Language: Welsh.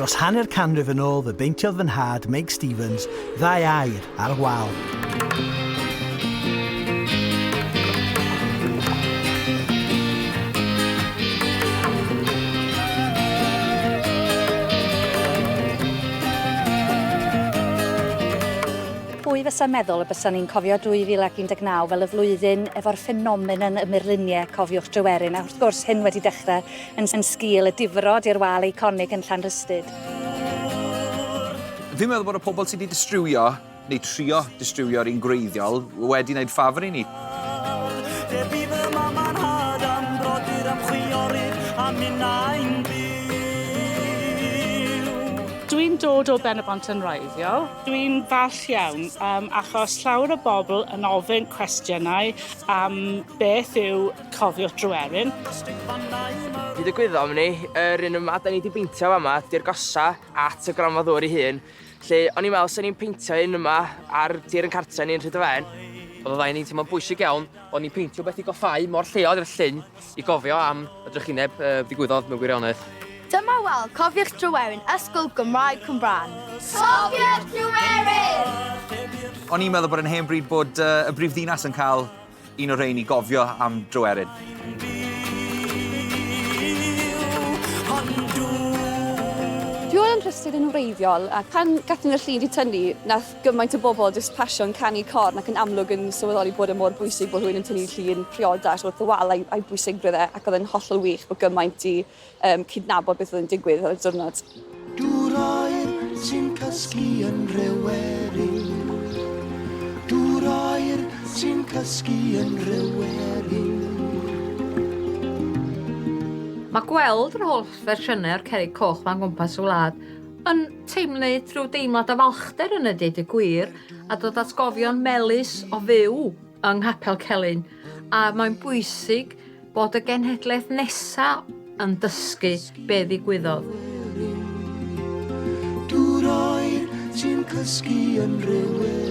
Dros hanner canrif yn ôl fe beintiodd fy nhad, Meg Stevens, ddau air ar y wal. Pwy fysa meddwl y bysa ni'n cofio 2019 fel y flwyddyn efo'r ffenomenon y murluniau, cofiwch Dryweryn, a wrth gwrs hyn wedi dechrau yn sgil y difrod i'r wal eiconig yn Llanrhystud. Fi'n meddwl bod y pobl sydd wedi distriwio, neu trio distriwio ar un gwreiddiol, wedi wneud ffafr i ni. Dwi'n dod o Benybont yn wreiddiol. Dwi'n falch iawn um, achos llawer o bobl yn ofyn cwestiynau am beth yw cofio Dryweryn. Hyd y gwyddom ni, yr un yma da ni wedi beintio fama, di'r gosa at y gronfa ddŵr ei hun. Lle o'n i'n meddwl sy'n ni'n peintio un yma ar dir yn cartre ni'n rhyd y fen. Oedd y ddau ni'n teimlo'n bwysig iawn o'n ni'n peintio beth i goffáu mor lleol i'r llyn i gofio am y drychineb uh, ddigwyddodd mewn gwirionedd. Dyma wel, cofiwch Dryweryn, Ysgol Gymraeg Cwmbran. Cofiwch Dryweryn! O'n i'n meddwl bod yn hen bryd bod uh, y brifddinas yn cael Un o rhein i gofio am dro erin. Fi oedd yn rhystud yn wreiddiol ac pan gathon ni'r llun 'di tynnu nath gymaint o bobl jyst pasio'n canu corn ac yn amlwg yn sylweddoli bod e mor bwysig bod rhywun yn tynnu llun priodas wrth y wal a'i a'i bwysigrwydd e ac oedd e'n hollol wych bod gymaint 'di um, cydnabod beth oedd yn digwydd ar y diwrnod. Dŵr oer sy'n cysgu yn rhyweri Dŵr oer sy'n cysgu yn rhyweri Mae gweld yr holl fersiynau o'r cerig coch ma'n gwmpas y wlad yn teimlu trwy deimlad o falchder yn y dyd y gwir a dod at gofion melus o fyw yng Nghapel Celyn, a mae'n bwysig bod y genhedlaeth nesaf yn dysgu be ddigwyddodd. Dŵr oer, ti'n cysgu yn rhywerin.